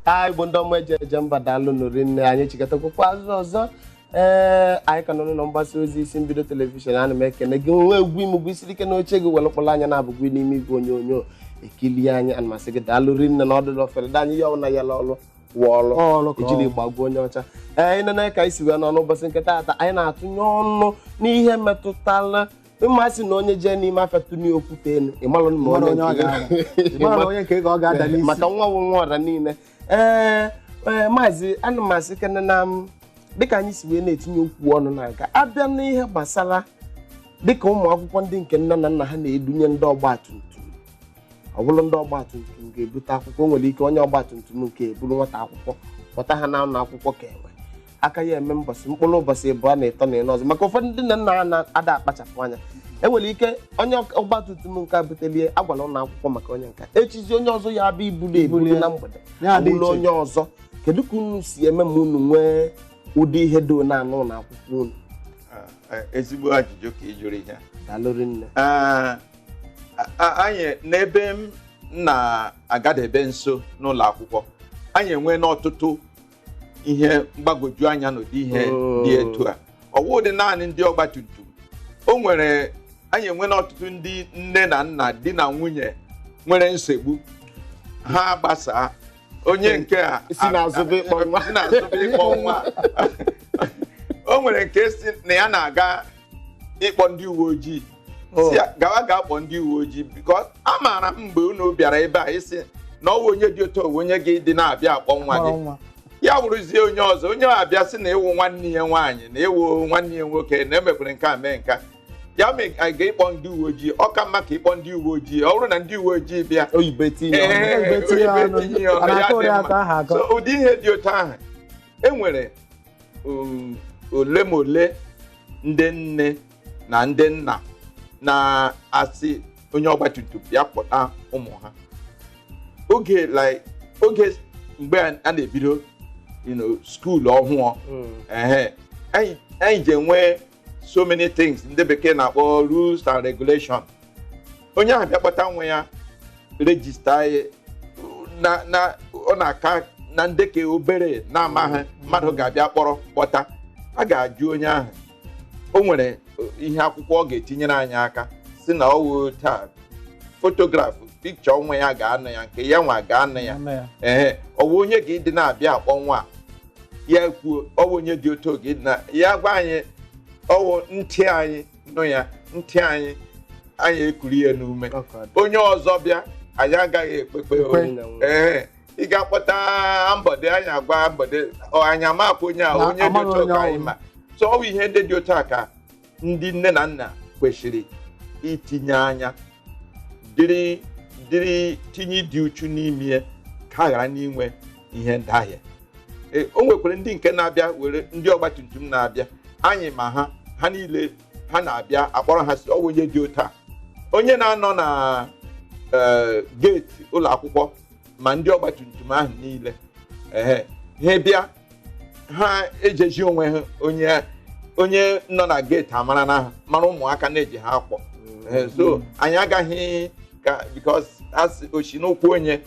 ha igbo ndị ọma eji eje mba daalụ nụ rinne anyị chịkọtakwukwa azụ ọzọ ee anyị ka nọ n'ụlọ mgbasa ozi isi mbido telivishọn ana m ekene gị nwe egwu imegwu isiri ike n'oche gị were kpọrọ anya na-abụgwu n'ime igwe onyonyo ekili anyị ana m asị gị daalụ rinne na ọdụdụ ofere dị anyị ya ọbụla ya ọlụ wụ ọlụ ejiri gbagbuo onye ọcha ee anyị nene ka anyị si wee nọ n'ụbọchị nke taata anyị na-atụnye ọnụ n'ihe metụtara mmasị na onye jee n'ime afịa tụnye okwute elu ịmalụ ma Ịmara onye onye ọ nke- ga-ada. Ịmara onye nke ọ ga-ada n'isi. maka nwa wụ nwa ọra niile ee ee, maazị ana m asị kene na m dịka anyị si wee na-etinye okwu ọnụ na-aga abịa n'ihe gbasara dịka ụmụ akwụkwọ ndị nke nne na nna ha na-edunye ndị ọgba tum tum ọ bụrụ ndị ọgba tum tum ga-ebute akwụkwọ o nwere ike onye ọgba tum tum nke eburu nwata akwụkwọ kpọta ha na ụlọ akwụkwọ ka enwe aka ya eme mbọsị mkpụrụ ụbọchị ịbụọ na ịtọ na ịnọ ọzọ maka ụfọdụ ndị nne na nna ha na-ada akpachapụ anya enwere ike onye ọgba tum tum nke a butelie agwala ụlọ akwụkwọ maka onye nka echizi onye ọzọ ya abịa ibulu ebulu Ibuli. na mgbede Ya dị awụla iche. onye ọzọ kedu ka unu si eme ma unu nwee ụdị ihe do na n'ụlọ akwụkwọ unu Ah, eh, ezigbo ajụjụ ka ị jụrụ ihe daalụ rinne Ah, a- a- anyị n'ebe m na-agadebe nso n'ụlọ akwụkwọ anyị enweena ọtụtụ ihe mgbagwoju anya n'ụdị ihe Oh. dị etu a ọ wụdị naanị ndị ọgba tum tum o nwere anyị enweena ọtụtụ ndị nne na nna di na nwunye nwere nsogbu ha agbasaa onye nke a Si n'azụ bịa ịkpọ nwa. si n'azụ bịa ịkpọ nwa o nwere nke sị na ya na-aga ịkpọ ndị uwe ojii sị ya gawa ga-akpọ ndị uwe ojii because amaara m mgbe unu bịara ebe a ị sị na ọ wụ onye dị otu onye gị dị na-abịa akpọ nwa gị ya wụrụzie onye ọzọ onye a bịa sị na ịwụ nwanne ya nwaanyị na ịwụ nwanne ya nwoke na emekwere nke a mee nka ya mee anyị ga ịkpọ ndị uwe ojii ọ ka mma ka ịkpọ ndị uwe ojii ọ bụrụ na ndị uwe ojii bịa oyibe tinye ya ụdị ihe dị otu ahụ enwere um, ole ma ole ndị nne na ndị nna na-asị onye ọgbatumtum bịa kpọta ụmụ ha oge like oge mgbe a a na-ebido you know, school ọhụụ ehe anyị anyị ji enwe so many things ndị bekee na-akpọ rules and regulation onye ahụ bịa kpọta nwa ya register ya na na ọ na-aka na nde ke obere na-amaghị mmadụ ga-abịa kpọrọ kpọta a ga-ajụ onye ahụ o nwere ihe akwụkwọ ọ ga-etinyere anyị aka sị na ọ wụ taa fotografụ pikcha nwa ya ga-anọ ya nke ya nwa ga-anọ ya Nne ya. ee ọ wụ onye ga-adị na-abịa akpọ nwa a? ya kwuo ọ wụ onye dị otu oge ịdị na ya gwa anyị ọ wụ ntị anyị nụ ya ntị anyị anyị ekuri ya n'ume Ọ ka dị. onye ọzọ bịa anyị agaghị ekpekpe Ekwe. ee ị ga-akpọta ambọdị anyị agwa ambọdị ọ anyị amakwa onye a Na onye dị amaghị otu onye ka anyị ọ wụ. ma so ọ bụ ihe ndị dị otu a ka ndị nne na nna kwesịrị itinye anya dịrị dịrị tinye ịdị uchu n'ime ya ka a ghara n'inwe ihe ndahie Ee, o nwekwara ndị nke na-abịa were ndị ọgbatumtum na-abịa anyị ma ha ha niile ha na-abịa akpọrọ ha sị ọ wụ onye dị otu a onye na-anọ na ee, geeti ụlọ akwụkwọ ma ndị ọgbatumtum ahụ niile ehe ha bịa ha ejeji onwe ha onye onye nọ na geeti amara na ha mara ụmụaka na-eji ha akpọ Ehe, so anyị agaghị ka bikos a sị o shi n'ụkwụ onye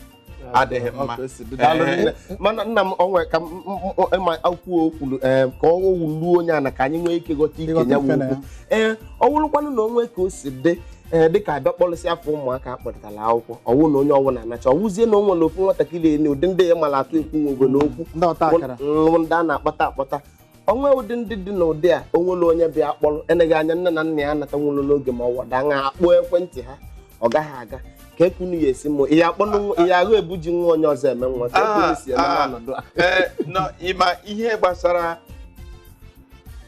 adịghị mma. Otu esi bido. Daalụ Ee. nne. mana nna m o nwe ka m- m- m- ịma akwụkwọ o kwulu ee, ka ọ wuluo onye anya ka anyị nwee ike ghọta ike Ịghọta ya ife na ya. wukwu ee ọ wụrụkwanụ na o nwe ka o si dị ee dịka a bịa kpọlịsị afọ ụmụaka a kpọlịtara akwụkwọ ọ wụ na onye ọ wụna anacha ọ wụzie na o nwere ofu nwatakịrị enye ụdị ndị ya mara atụ ekwu nwe ogolo okwu ndị ọta akara bụ ndị a na-akpọta akpọta o nwe ụdị ndị dị n'ụdị a o nwere onye bịa akpọrọ eneghị anya nne na nna ya anata nwụrụ n'oge ma ọ wụ a na-akpọ ekwentị ha ọ gaghị aga kee ka unu ya-esi mụ ihe akpọ ihe agụ ebuji nwa onye ọzọ eme nwa kee ka unu si eme Ah, n'ọnọdụ a Ee, nọ, ịma ihe gbasara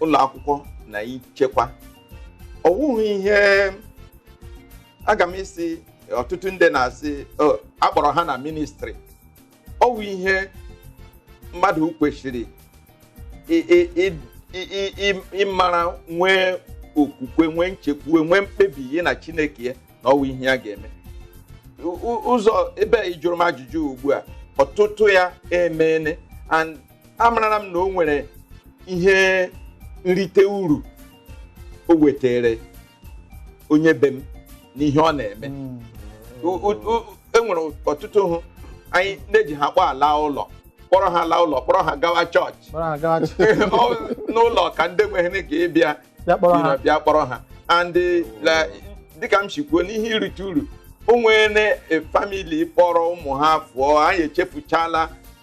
ụlọ akwụkwọ na ichekwa ọ wụghị ihe aga m ịsị ọtụtụ ndị na-asị "Oh, a kpọrọ ha na ministri ọ wụ ihe mmadụ kwesịrị ị- ị- ị- ị- ị- ị- ịmara nwee okwukwe nwee nchekwuwe nwee mkpebi ya na chineke ya na ọ wụ ihe ya ga-eme U- u- ụzọ ebe a ị jụrụ m ajụjụ ugbu a ọtụtụ ya emeene and amarala m na o nwere ihe nrite uru o wetara onye be m n'ihe ọ na-eme mm. e nwere ọtụtụ ha anyị na-eji ha kpọ ala ụlọ kpọrọ ha laa ụlọ kpọrọ ha gawa chọọchị n'ụlọ ụka ndị nweghị ike ịbịa bịa kpọrọ ha and dịka m si kwuo n'ihe irite uru o nwere famili kpọrọ ụmụ ha fụọ anyị echefuchala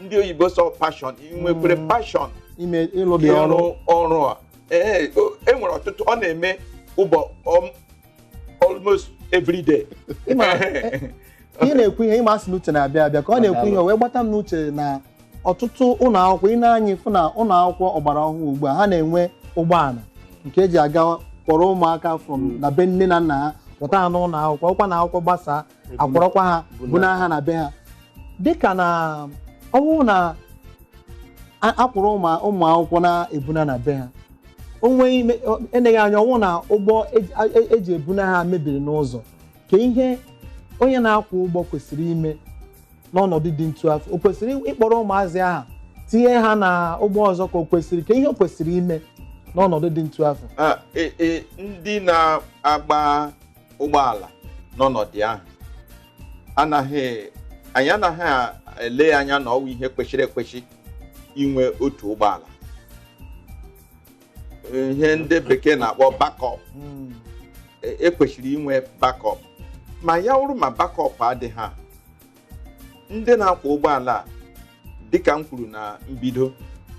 ndị oyibo sị passion ị nwekwere Mm. passion ime ịrụ ụdị ọrụ ịrụ ọrụ a ee o- e nwere ọtụtụ ọ na-eme ụbọ um, almost every day Ị ma, eh, ka ị na-ekwu ihe ịma asị na uche na-abịa abịa ka ọ na-ekwu ihe o wee gbata m n'uche na ọtụtụ ụlọ akwụkwọ i nee anya ị fụ na ụlọ akwụkwọ ọgbara ọhụrụ ugbu a ha na-enwe ụgbọala nke eji aga kpọrọ ụmụaka from na be nne na nna ha pụta ha n'ụlọ akwụkwọ ọkwa na akwụkwọ gbasaa a kwọrọkwa ha buna ha na be ha dịka na ọ bụrụ na a- a kwọrọ ụmụ ụmụ akwụkwọ na-ebuna na be ha o nweghị ime- ọ- eleghị anya ọ wụ na ụgbọ eji- a- e- eji ebuna ha mebiri n'ụzọ kee ihe onye na-akwọ ụgbọ kwesịrị ime n'ọnọdụ dị ntu afụ o kwesịrị ịkpọrọ ụmụazị ahụ tinye ha na ụgbọ ọzọ ka o kwesịrị kee ihe o kwesịrị ime n'ọnọdụ dị ntu afụ Ah, e- e, ndị na-agba ụgbọala n'ọnọdụ ahụ anaghị anyị anaghị ele anya na ọ wụ ihe kwesịrị ekwesị inwe otu ụgbọala ihe ndị bekee na-akpọ backup Mm. e kwesịrị inwe backup ma ya wụrụ ma backup adịghị ha ndị na-akwọ ụgbọala a dịka m kwuru na mbido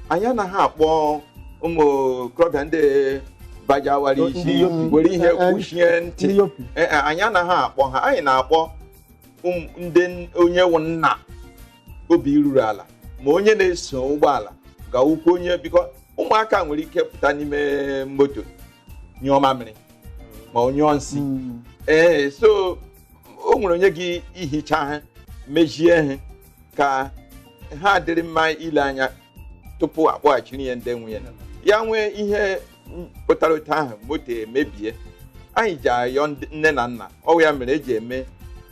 anyị anaghị akpọ ụmụ okorobịa ndị bajawara Ndị isi yopi. were ihe Eh, eh, kwuchie ntị ndị yopi Ee, e, anyị anaghị akpọ ha anyị na-akpọ ụm- ndị n- onye wụ nna obi ruru ala ma onye na-eso ụgbọala ga-awụkwa onye because ụmụaka nwere ike pụta n'ime moto nyụọ mamịrị ma ọ nyụọ nsị Mm. ee so o nwere onye ga-ihicha ha mezie ha ka ha dịrị mma ile anya tupu akpọghachiri ya ndị nwe ya ya nwee ihe pụtara otu ahụ moto emebie anyị ji ayọ ndị- nne na nna ọ wụ ya mere eji eme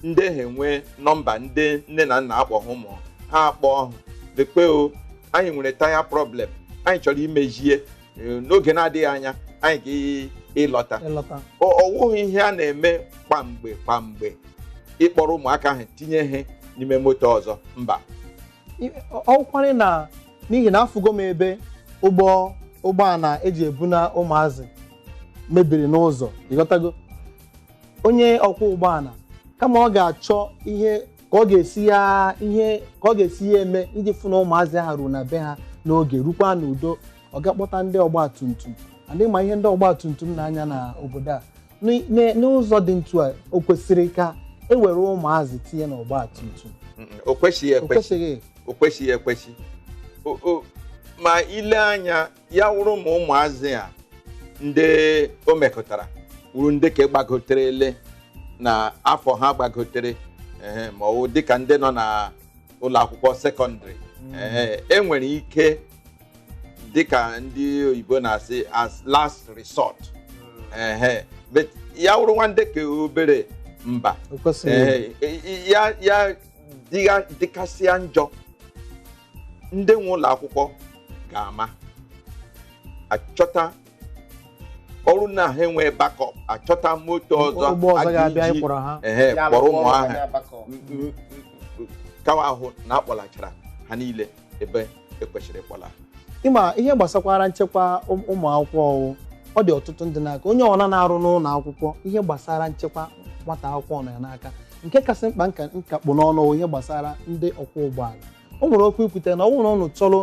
ndị ha enwe nọmba ndị nne na nna akpọ ha ụmụ ha akpọọ ha lekwe o anyị nwere taya problem anyị chọrọ imezie eh, n'oge na-adịghị anya anyị ga-ịlọta ịlọta ọ ọ wụghị ihe a na-eme kwamgbe kwamgbe ịkpọrọ ụmụaka ahụ tinye ha n'ime moto ọzọ mba I- ọ- ọ kwụkwarị na n'ihi na afụgo m ebe ụgbọ ụgbọala eji ebuna ụmụazị mebiri n'ụzọ ị ghọtago onye ọkwọ ụgbọala kama ọ ga-achọ ihe ka ọ ga-esi ya ihe ka ọ ga-esi ya eme iji fụ na ụmụazị ahụ ruo na be ha n'oge rukwa n'udo ọ ga-akpọta ndị ọgba tum tum and ị ma ihe ndị ọgba tum tum na-anya na obodo a N'ị- n'e- n'ụzọ dị ntu a o kwesịrị ka e were ụmụazị tinye na ọgba tum tum Mm, mm, o kwesịghị o ekwesị kwesịghị o kwesịghị ekwesị O- o- ma ile anya ya wụrụ ma ụmụazị a ndị o mekụtara wụrụ ndị ka gbagotere ele na afọ ha gbagotere ehe, ma ọ wụ dịka ndị nọ na ụlọ akwụkwọ sekọndịrị ehe, e nwere ike dịka ndị oyibo na-asị as last resort ehe, but ya wụrụ nwa ndị ka obere mba o kwesịghị Ee, i- i- ya ya dịga- dịkasịa njọ ndị nwe ụlọ akwụkwọ ga-ama achọta ọ wụrụ na ha enwe backup achọta moto ọzọ ụgbọ ọzọ a ga-abịa ga-eji- ịkwọrọ ha ehe, Ya kpọrọ alụkwọ ụmụ ọrụ ahụ ya bakọ. m- m- m- ka wa hụ na a kpọlachara ha niile ebe e kwesịrị ịkpọla ị ma ihe gbasakwara nchekwa ụm- ụmụ akwụkwọ ọ wụ ọ dị ọtụtụ ndị n'aka onye ọbụla na-arụ n'ụlọ akwụkwọ ihe gbasara nchekwa nwata akwụkwọ nọ ya n'aka nke kasị mkpa nka nka kpụ n'ọnụ wụ ihe gbasara ndị ọkwọ ụgbọala o nwere okwu i kwute na ọ bụrụ na ụnụ chọrọ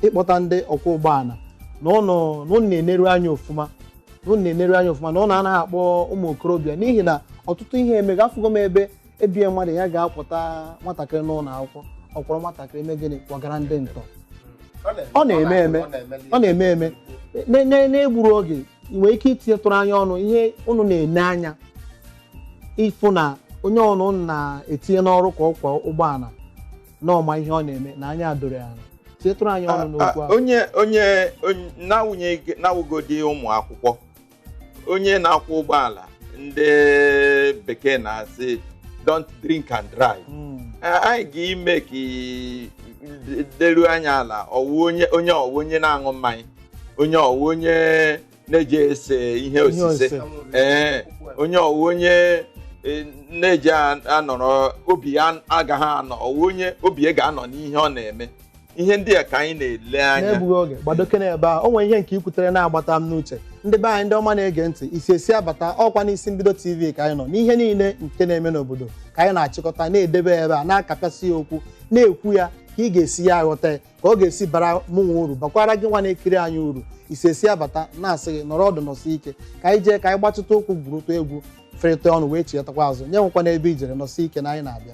ịkpọta ndị ọkwọ ụgbọala na ụnụ na ụnụ na-eneru anya ọfụma na ụnụ na-eneru anya ọfụma na ụnụ anaghị akpọ ụmụ okorobịa n'ihi na ọtụtụ ihe emega afụgo m ebe ebie mmadụ ya ga-akwọta nwatakịrị n'ụlọ akwụkwọ ọ kwọrọ nwatakịrị mee gịnị kpọgara ndị ntọ ọ na-eme eme ọ na-eme eme na- na- na-egburọ oge ị nwere ike itinyetụrụ anyị ọnụ ihe unu na-ene anya ịfụ na onye unu na-etinye n'ọrụ ka ọkwọ ụgbọala na ọ ma ihe ọ na-eme na anya doro ya anya tinyetụrụ anyị ọnụ n'okwu Ah, ahụ onye onye onye- na-awụnye na-awụgodi ụmụ akwụkwọ onye na-akwọ ụgbọala ndị bekee na-asị don't drink and drive Mm. Eh, anyị ga-ime ka i- leruo anya ala ọ wụ onye onye ọ wụ onye na-aṅụ mmanya onye ọ wụ onye na-eji ese ihe osise osise. ee onye ọ wụ onye e, na-eji a- anọrọ obi ya agaghị anọ ọ wụ onye obi ya ga-anọ n'ihe ọ na-eme ihe ndị a ka anyị na-ele anya n'egbughị oge gbadoke n'ebe a o nwere ihe nke i kwutere na-agbata m n'uche ndị be anyị ndị ọma na-ege ntị isi esi abata ọkwa n'isi mbido tv ka anyị nọ n'ihe niile nke na-eme n'obodo ka anyị na-achịkọta na-edebe ebe a na-akapịasị ya okwu na-ekwu ya ka ị ga-esi ya aghọta ya ka ọ ga-esi bara mụnwa uru bakwara gị nwa na-ekiri anyị uru isi esi abata na-asị gị nọrọ ọdụ nọsi ike ka anyị jee ka anyị gbatịtụ ụkwụ gwurutụ egwu ferịta ọnụ wee chighatakwa azụ ya enwekwana ebe i jere nọsi ike na anyị na-abịa